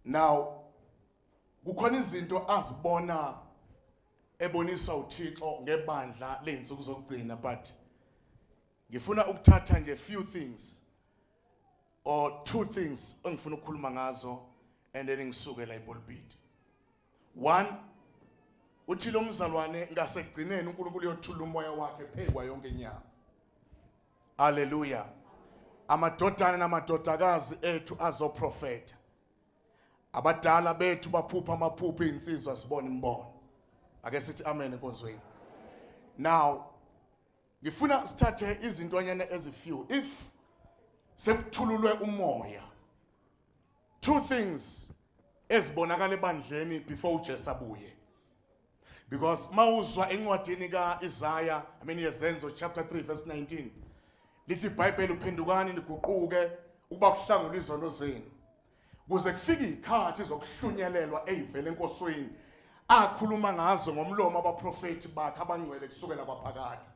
now kukhona izinto azibona ebonisa uThixo ngebandla leinsuku zokugcina but ngifuna ukuthatha nje few things or two things engifuna ukukhuluma ngazo and then ngisuke la ipulpit 1 uthi lo mzalwane ngasekugcineni uNkulunkulu uyothula umoya wakhe phekwa yonke inyama haleluya amadodana namadodakazi ethu azoprofeta abadala bethu baphupha amaphupho izinsizwa sibona imbono ake sithi amen enkonzweni now ngifuna sithathe izintwanyana ezifew if sekuthululwe umoya two things ezibonakala ebandleni before uJesu abuye because mawuzwa encwadini kaIsaya I mean yezenzo chapter 3 verse 19 lithi iBhayibheli uphendukani niguquke ukuba kuhlangulwe izono zenu kuze kufike ikhathi zokuhlunyelelwa eyivele enkosweni akhuluma ngazo ngomlomo abaprofeti bakhe abangcwele kusukela kwaphakade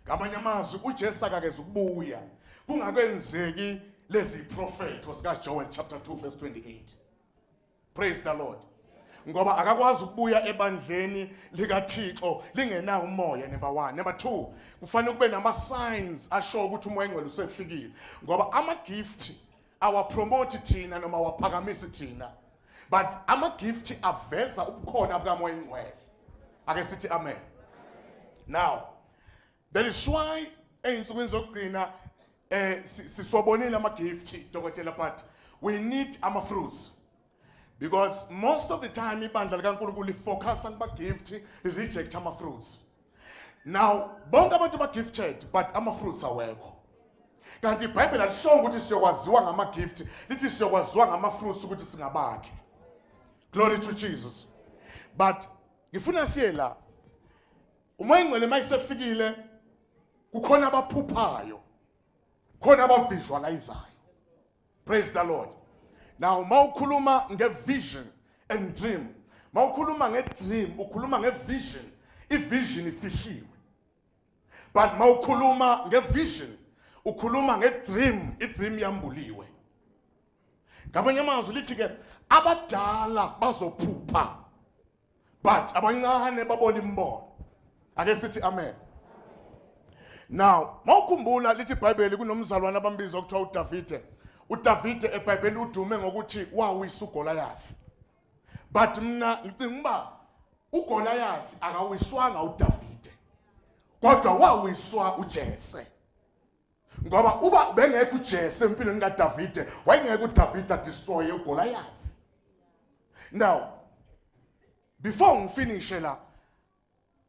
Ngamanye amazwi uJesu akakeze ukubuya kungakenzeki lezi prophetho sika Joel chapter 2 verse 28. Praise the Lord. ngoba akakwazi ukubuya ebandleni likaThixo lingenawo umoya number 1 number 2 kufanele kube nama signs asho ukuthi umoya engcwele usefikile ngoba ama gift awapromote thina noma awaphakamisi thina but amagifti aveza ubukhona bukamoya ingcwele ake sithi amen now that is why ey'nsukwini zokugcina um siswabonile amagifti dokotela but we need ama-fruits because most of the time ibandla likaNkulunkulu lifocusa kuba gift reject ama fruits now bonke abantu ba gifted but ama fruits awekho kanti ibhayibheli alishongo ukuthi siyokwaziwa ngama gift lithi siyokwaziwa ngama fruits ukuthi singabakhe glory to jesus but ngifuna siye la uma ingcwele mayisefikile kukhona abaphuphayo khona abavisualizayo praise the lord now mawukhuluma ngevision and dream mawukhuluma ngedream ukhuluma ngevision ivision ifihliwe but mawukhuluma ngevision ukhuluma ngedream idream yambuliwe ngamanye amazwi lithi ke abadala bazophupha but abancane babona imbono ake sithi amen now mawukhumbula lithi ibhayibheli kunomzalwane abambiza okuthiwa udavide udavide ebhayibheli udume ngokuthi wawisa ugolayafi but mina ngicinga uba ugolayafi akawiswanga udavide kodwa wawiswa ujese ngoba uba bengekho uJesu empilweni kaDavide wayengeke uDavide adistroye uGoliath now before ngifinishe la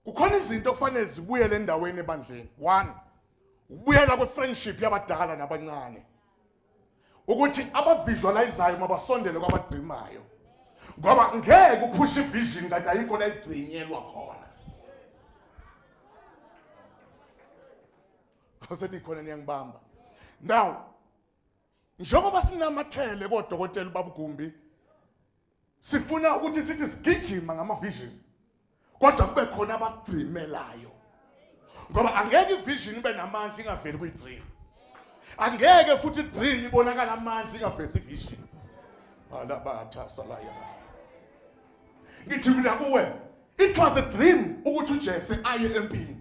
kukhona izinto okufanele zibuyele endaweni ebandleni one ukubuyela kwefriendship yabadala nabancane ukuthi abavisualizayo mabasondele kwabadrimayo ngoba ngeke uphushe ivision kanti ayikho la igcinyelwa khona Ngase nikhona niyangibamba. Now njengoba sinamathele kodokotela babugumbi sifuna ukuthi sithi sigijima ngama vision kodwa kube khona abastreamelayo ngoba angeke ivision ibe namandla ingaveli kwi dream angeke futhi dream ibonakala amandla ingavezi vision alabatha salaya ngithi mina kuwe it was a dream ukuthi uJesu aye empini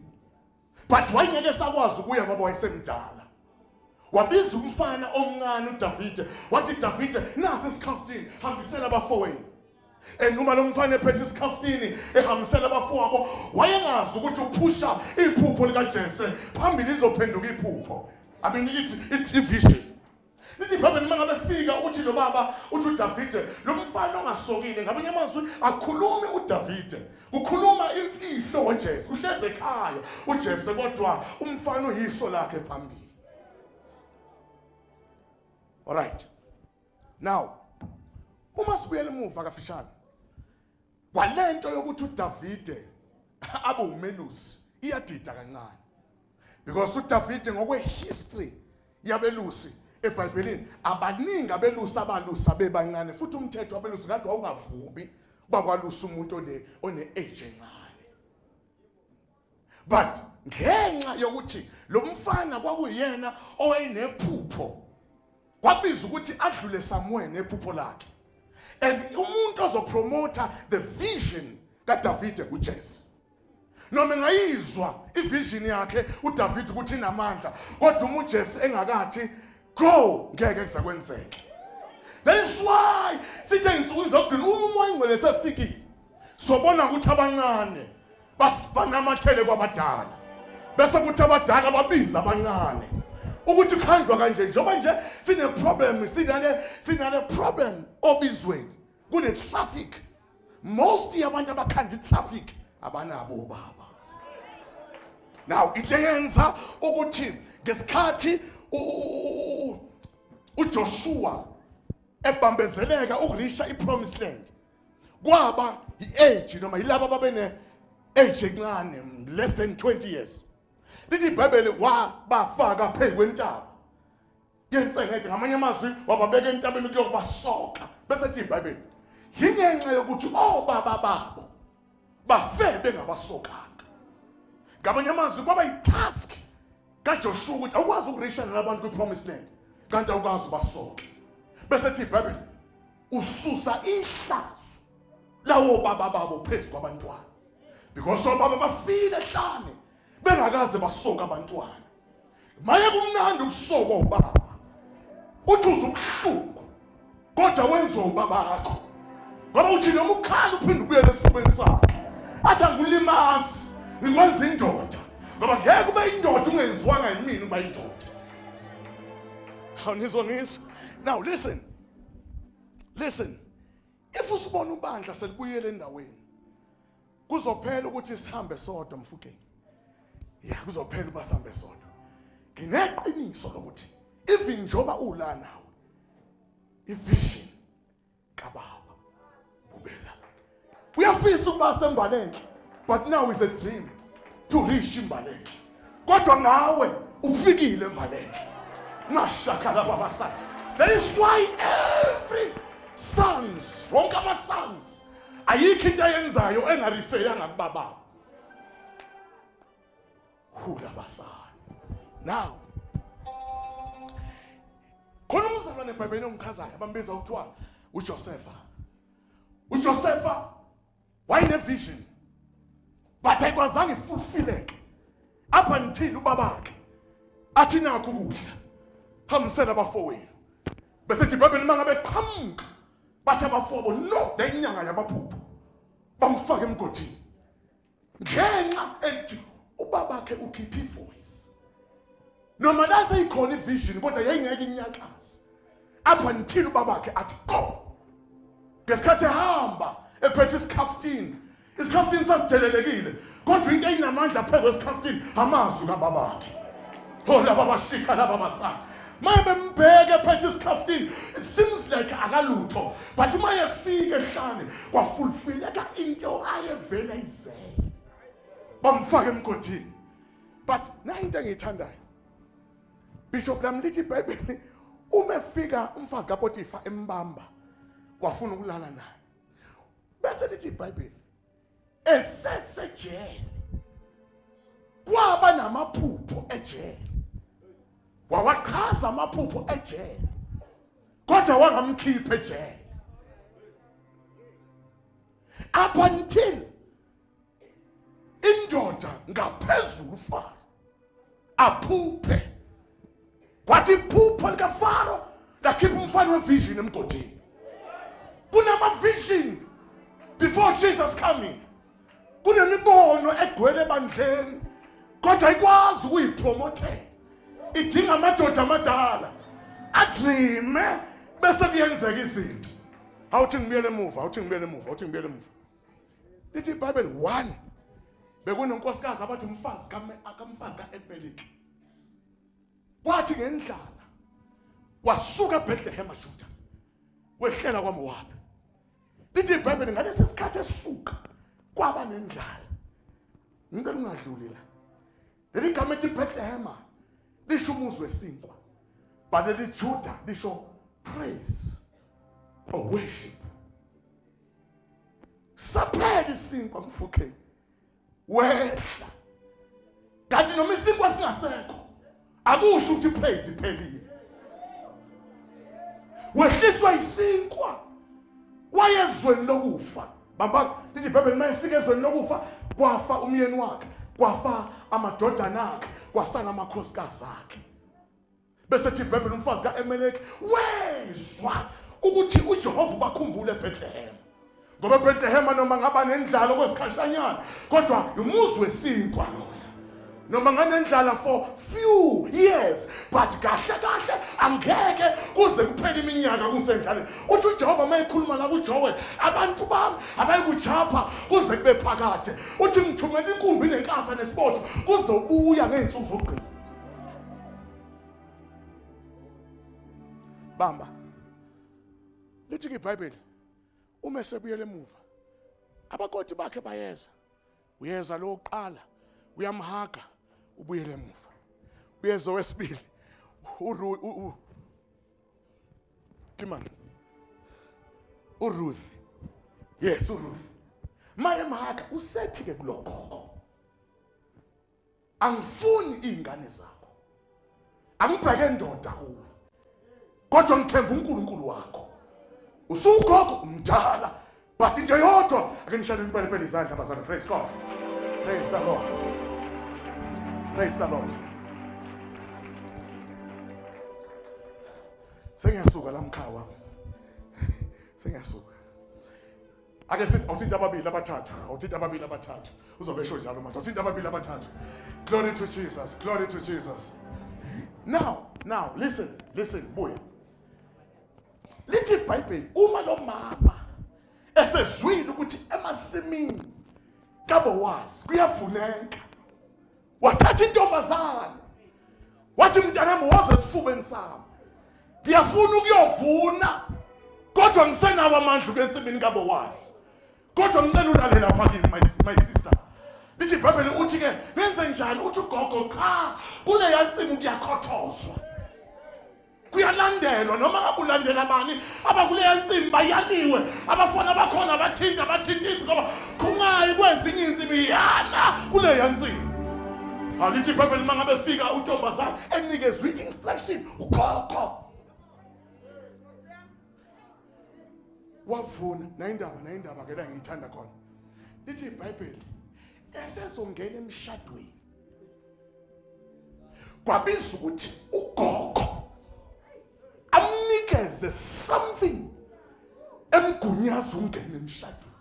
but wayengeke sakwazi ukuya ngoba wayesemdala wabiza umfana omncane uDavide wathi Davide nasi isikhaftini hambisela abafowenu enuma lo mfana ephethe isikhaftini ehambisela abafowabo wayengazi ukuthi uphusha iphupho likaJese phambili izophenduka iphupho i mean ivision Nithi problem uma ngabe fika uthi lo baba uthi uDavide lo mfana ongasokile ngabanye amazwi akhulumi uDavide ukhuluma imfihlo ngoJesu uhleze ekhaya uJesu kodwa umfana uyiso lakhe phambili All right now uma sibuyela emuva kafishane kwalento yokuthi uDavide abe umelusi iyadida kancane because uDavide ngokwehistory yabelusi eBhayibhelini abaningi abelusi abalusa bebancane futhi umthetho wabelusi kade wawungavumi bakwalusa umuntu one one age encane but ngenxa yokuthi lo mfana kwakuyena owayenephupho kwabiza ukuthi adlule Samuel nephupho lakhe and umuntu ozopromota the vision kaDavide uJesu noma engayizwa ivision yakhe uDavid ukuthi inamandla kodwa uma uJesu engakathi go ngeke kuzakwenzeke that is why sithe insuku zokugcina uma umoya ingcwele sefikile sobona ukuthi abancane banamathele kwabadala bese kuthi abadala babiza abancane ukuthi kuhanjwa kanje njengoba nje sine problem sinale sinale problem obizweni kune traffic most yabantu abakhanda itraffic abanabo ubaba now into eyenza ukuthi ngesikhathi uJoshua ebambezeleka ukurisha ipromised land kwaba iage noma yilabo ababene age encane less than 20 years lithi ibhayibheli wabafaka phezu kwentaba yensengethe ngamanye amazwi wababeka entabeni kuyokubasoka bese thi ibhayibheli yingenxa yokuthi obaba babo bafe bengabasokanga ngamanye amazwi kwaba yitask kajoshuwa ukuthi awukwazi ukurishana nabantu kwi-promise land kanti awukwazi ubasoke bese thi ibhayibheli ususa ihlazo lawo baba babo phezu kwabantwana because obaba bafile hlane bengakaze basoka abantwana maye kumnandi ukusoko ubaba uthi uze ubuhlungu kodwa wenziwa ubaba wakho ngoba uthi noma ukhala uphinde ubuyele esifubeni sakhe athi angulimazi ngikwenza indoda ngoba ngeke ube indoda ungenziwanga yimina uba indoda awunizwa ngizwa now listen listen if usibona ubandla selibuyele endaweni kuzophela ukuthi sihambe sodwa mfukeni ya kuzophela uba sihambe sodwa ngineqiniso lokuthi even njoba ula nawe ivision kababa ubela uyafisa ukuba sembalenhle but now is a dream to reach imbalenhle kodwa ngawe ufikile mbaleke ngashakala baba sana that is why every sons wonke ama-sons ayikho into ayenzayo engarifeyanga kubababo hula basana now khona umzalwane ebhayibhelini ongichazayo abambiza kuthiwa ujosefa ujosefa wayenevision but ayikwazanga ifulfileke up until ubabakhe athi nakho ukudla hambisela abafowenu bese thi ibhayibheli uma ngabe qhamuka bathi abafobo no le inyanga yamaphupho bamfake emgodini ngenxa ethi ubabakhe ukhipha ivoice noma la seyikhona ivision kodwa yayingeke inyakaze up until ubabakhe athi qom ngesikhathi ehamba ephethe isikhaftini isikhaftini sasidelelekile kodwa into eyinamandla phezu kwesikhaftini amazwi kababakhe oh laba bashika laba basana maye bembheke phethe isikhaftini it seems like akalutho but uma yefika ehlane kwafulfileka into ayevele izele bamfaka emgodini but nayo into engiyithandayo bishop lami lithi ibhayibheli uma efika umfazi kapotifa embamba wafuna ukulala naye bese lithi ibhayibheli esesejele kwaba namaphupho ejele wawachaza amaphupho ejele kodwa wangamkhipha ejele up until indoda ngaphezulu ufaro aphuphe kwathi iphupho likafaro lakhipha umfana wevision emgodini kunama-vision before jesus coming kunemibono egcwele ebandleni kodwa ikwazi ukuyipromothela idinga amadoda amadala adreame bese kuyenzeka izinto awuthi ngibuyele emuva awuthi ngibuyele emuva awuthi ngibuyele emuva lithi ibhayibheli one bekunonkosikazi abathi umfazi kamfazi ka-elimeleki kwathi ngendlala wasuka ebhethlehema juda wehlela kwamowabi lithi ibhayibheli ngalesi sikhathi esuka kwaba nendlala ngicela ungadluli la leli gama ethi ibhethlehema lisho umuzi wesinkwa but elijuda lisho praise or worship saphela isinkwa mfukheni wehla kanti noma isinkwa singasekho akusho ukuthi praise iphelile wehliswa isinkwa wayezweni lokufa bamba lithi ibhayibheli uma efika ezweni lokufa kwafa umyeni wakhe kwafa amadodana akhe kwasala amakhosikazi akhe bese thi ibhebhela umfazi ka-emeleki wezwa ukuthi ujehova ubakhumbule ebhetlehema ngoba ebhetlehema noma ngaba nendlala okwesikhashanyana kodwa umuzi wesinkwa lona noma nganendlala for few years but kahle kahle angeke kuze kuphele iminyaka kusendlaleni uthi ujehova uma ekhuluma la kujowe abantu bami abayikujapha kuze kube phakade uthi ngithumela inkumbi nenkasa nesibotho kuzobuya ngey'nsuku zokugcina bamba lithi ibhayibheli uma esebuyela emuva abakoti bakhe bayeza uyeza lo uqala uyamhaga ubuyele emuva uyeza wesibili kimani uruth yes uruth maye mhaka usethi-ke kulokhokho angifuni izingane zakho angibheke ndoda kuwe kodwa ngithemba uNkulunkulu wakho usugogo umdala but into yodwa ake nishane impelipeli izandla bazana praise god praise the lord praise the lord sengiyasuka la mkhawa sengiyasuka ake sithi awuthinti ababili abathathu awuthinti ababili abathathu uzobe esho njalo manje awuthinti ababili abathathu glory to jesus glory to jesus now now listen listen buya lithi ibhayibheli uma lo mama esezwile ukuthi emasimini kabowazi kuyavuneka wathatha intombazane wathi mntanami woze esifubeni sami ngiyafuna ukuyovuna kodwa ngisenawo amandla ukwensimini kabo wazi kodwa ngicela ulale lapha kimi my, my sister lithi ibhayibheli uthi-ke nenze njani uthi ugogo cha kuleya nsimu kuyakhothozwa kuyalandelwa noma ngabe ulandela bani abakuleya nsimu bayaliwe abafana bakhona bathinta abathintisi ngoba khungayi kwezinye insimu iyana kuleya nsimu alithi ibhayibheli uma ngabe fika untombazane enikezwe i-instruction ukhokho wavuna nayindaba nayindaba ke la ngiyithanda khona lithi ibhayibheli esezongena emshadweni kwabiza ukuthi ugogo amnikeze something emgunyaza ungene emshadweni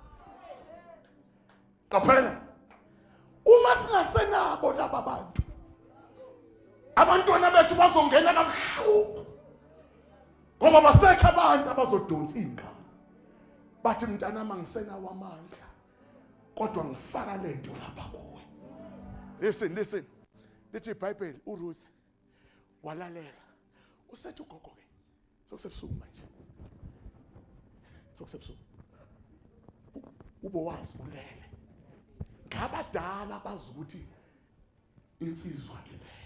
qaphela uma singasenabo laba bantu abantwana bethu bazongena kabuhlungu ngoba basekho abantu abazodonsa ingane bathi mntanami angisenawo amandla kodwa ngifaka lento lapha kuwe listen listen lithi iBhayibheli uRuth walalela usethi ugogo ke sokusebusuku manje sokusebusuku ubowazi ulele ngabadala bazi ukuthi insizwa ilele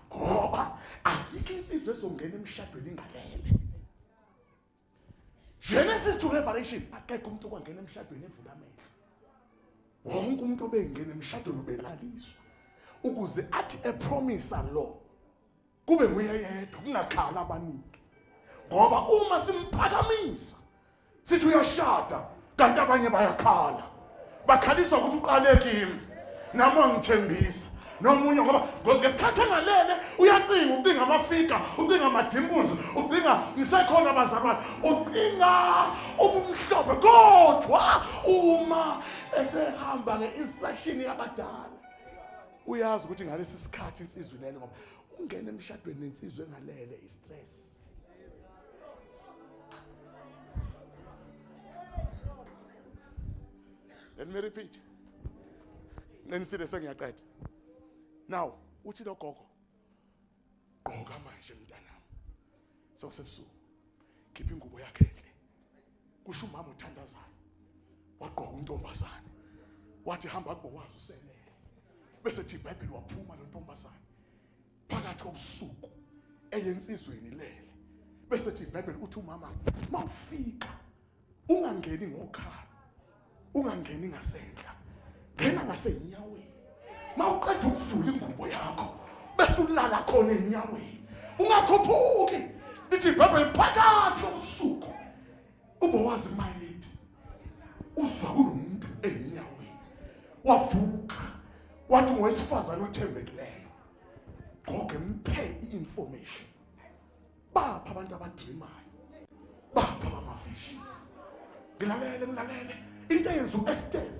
ngoba ayikho insizwa ezongena emshadweni ingalele Genesis to Revelation akekho umuntu okwangena emshadweni evula amehlo wonke umuntu obengena emshadweni ubelaliswa ukuze athi epromisa lo kube nguye yedwa kungakhala abaningi ngoba uma simphakamisa sithi uyashada kanti abanye bayakhala bakhalisa ukuthi uqale kimi nami angithembisa nomunye ngoba ngesikhathi engalele uyacinga ucinga amafika ucinga amadimples ucinga ngisekhona abazalwane ucinga ubumhlophe kodwa uma esehamba nge-instruction yabadala uyazi ukuthi ngalesi sikhathi insizwe ilele ngoba ungena emshadweni nensizwe engalele i-stress Let me repeat. Ngiqinisile sengiyaqeda. Now, uthi lo gogo gqoka manje mntanami. Sokusebusuku. Khipha ingubo yakhe enhle. Kusho umama uthandazayo. Wagqoka untombazane. Wathi hamba kubo wazi usenele. Bese thi iBhayibheli waphuma lo ntombazane. phakathi kobusuku eyensizweni lele bese thi iBhayibheli uthi umama mawufika ungangeni ngokhala ungangeni ngasendla ngena ngasenyaweni mawuqeda ukuvula ingubo yakho bese ulala khona enyaweni ungakhuphuki lithi iBhayibheli phakathi kobusuku ubowazi mayethu uzwa kunomuntu enyaweni wavuka wathi ngowesifazane othembekileyo goge mphe i-information bapha abantu abadrimayo bapha abama-visions ngilalele ngilalele into eyenza u-estela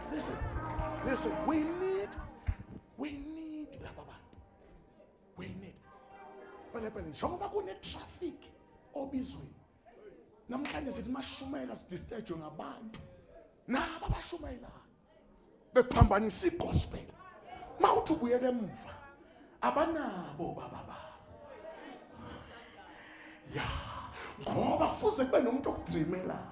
Listen, listen, we need, we need laba bantu. We need. Pelepele, njengoba kune-traffic obizweni. Namhlanje sithi mashumayela sidistajwe ngabantu. Naba bashumayelayo. Bephambanisa i-gospel. Mawuthi ubuyela emuva. Abanabo baba ba. Ya, ngoba fuze kube nomuntu okudreamelayo.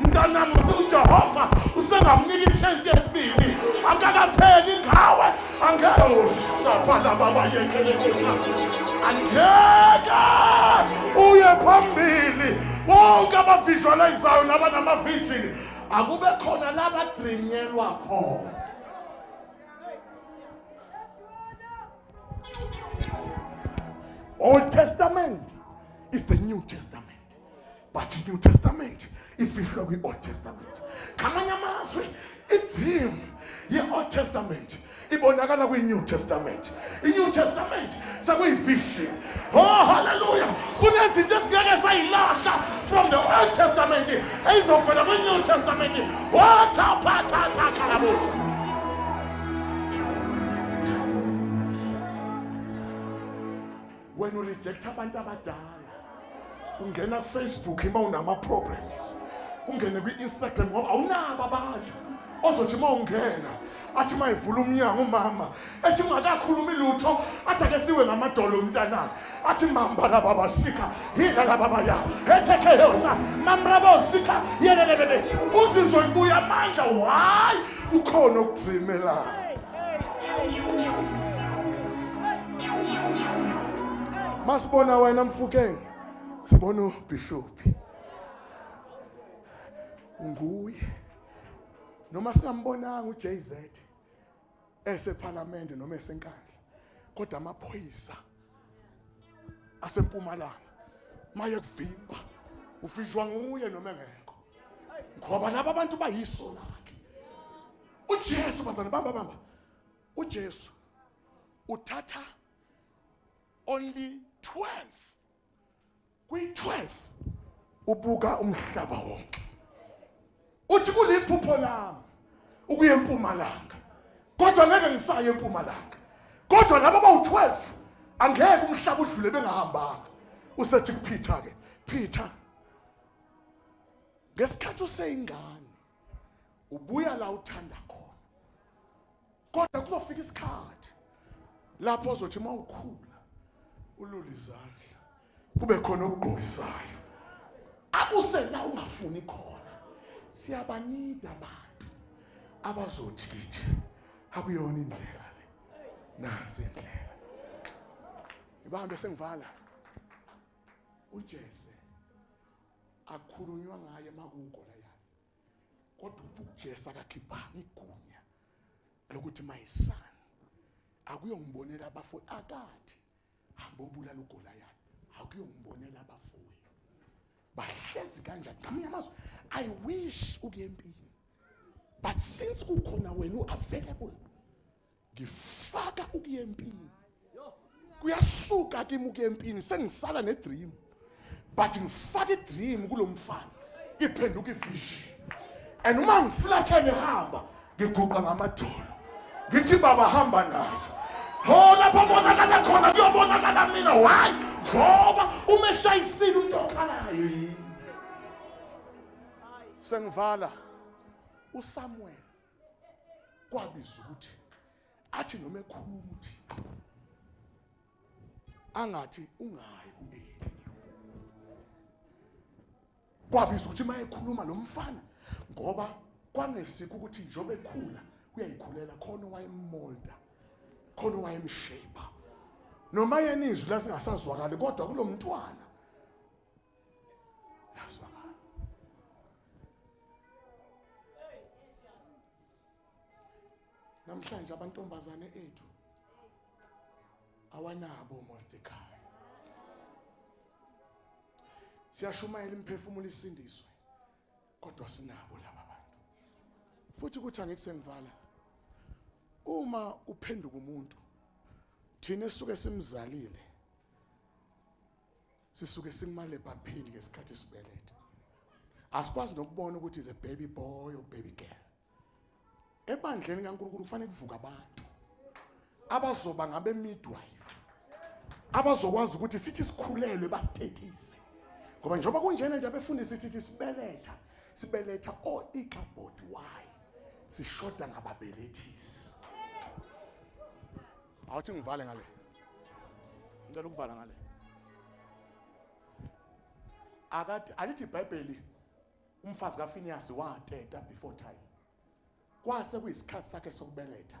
mntanami usujehova usengamnika i-chance yesibili akakapheli ngawe angeke ushaphala baba yekhele kutha angeke uye phambili bonke abavisualizayo nabanamavijini akube khona labadrinyelwa khona old testament is the new testament but i-new testament ifihlwa kwi-old testament ngamanye amazwi i-dream ye-old testament ibonakala kwi-new testament i-new testament sekuyivision oh halleluya kunezinto esingeke sayilahla from the old testament eyizovela kwi-new testament wathaphathathakalabusa oh, wena urejecta abantu abadala ungena kufacebook uma unama-problems ungene kwi-instagram ngoba awunabo abantu ozothi uma ungena athi uma evula umnyango umama ethi ungakakhulumi lutho athi ake siwe ngamadolo umntanami athi mamba laba basika yina laba baya ethekeyosa mamrabosika yelelebebe uzizwa ibuya amandla why kukhona okugcimelayo masibona wena mfukeng sibona ubhishophi nguye noma singambonanga uJZ esephalamende noma esenkandla kodwa amaphoyisa asempumalanga maye kuvimba ufishwa nguye noma engekho ngoba laba bantu bayiso lakhe uJesu bazana bamba bamba uJesu uthatha only 12 kwi-12 ubuka umhlaba wonke uthi kuliphupho lami ukuya empumalanga kodwa ngeke ngisaye empumalanga kodwa laba bawu-12 angeke umhlaba udlule bengahambanga usethi kuphitha-ke phitha ngesikhathi useyingane ubuya la uthanda khona kodwa kuzofika isikhathi lapho ozothi uma ukhula ulule izandla kube khona okugqokisayo akusela ungafuni khona siyabanida abantu abazothi kithi akuyona indlela le nansi indlela ibambe sengivala ujese akukhulunywa ngaye makuwugolayathi kodwa ujesu akakhiphanga igunya lokuthi my son akuyongibonela abafo akathi hamba obulala ugolayathi akuyongibonela abafowethu bahlezi kanjani ngamanye amazwi i wish ukuye empini but since kukhona wena u-available ngifaka ukuyempini kuyasuka kimi ukuyempini sengisala nedream but ngifaka idream kulomfana iphenduka ivision and uma ngiflathele hamba ngiguqa ngamadolo ngithi baba hamba nayo ho lapha bonakala khona kuyobonakala mina why ngoba uma eshayisile umuntu okhalayo yini sengivala usamuel kwabiza ukuthi athi noma ekhuluma uthi angathi ungayi kuyini kwabiza ukuthi mayekhuluma lo mfana ngoba kwangesikho ukuthi njengoba ekhula uyayikhulela khona wayemolda khona wayemshape noma yena izwi lasingasazwakali kodwa kulomntwana Naswakala. Namhlanje abantombazane ethu awanabo Mordecai. Siyashumayela imphefumulo isindiswe kodwa sinabo laba bantu. Futhi kuthi angithi sengivala uma uphenduka umuntu thina esuke simzalile sisuke simale baphini ngesikhathi sibeletha asikwazi nokubona ukuthi is a baby boy or baby girl ebandleni kaNkulunkulu kufanele kuvuka abantu abazoba ngabe midwife abazokwazi ukuthi sithi sikhulelwe basithethise ngoba njengoba kunjena nje abefundisi sithi sibeletha sibeletha o ikabod y sishoda ngababelethisi awuthi ngivale ngale ngicela ukuvala ngale akathi alithi ibhayibheli umfazi kafiniyasi wateta before time kwase kuyisikhathi sakhe sokubeletha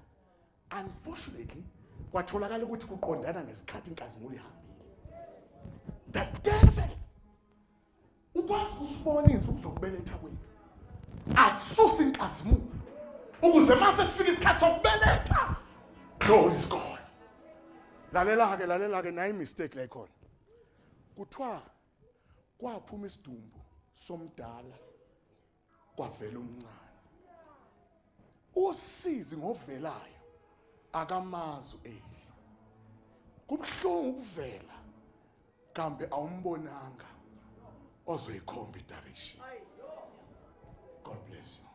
unfortunately kwatholakala ukuthi kuqondana ngesikhathi inkazimulo ihambile the devil ukwazi ukusibona izinsuku zokubeletha kwethu akususa inkazimulo ukuze mase kufika isikhathi sokubeletha glory is gone lalela-ke lalela-ke nayi mistake la ikhona kuthiwa kwaphuma isidumbu somdala kwavela umncane usizi ngovelayo akamazi eli kubuhlungu ukuvela kambe awumbonanga ozoyikhomba idirection god bless you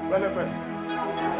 Bele bele.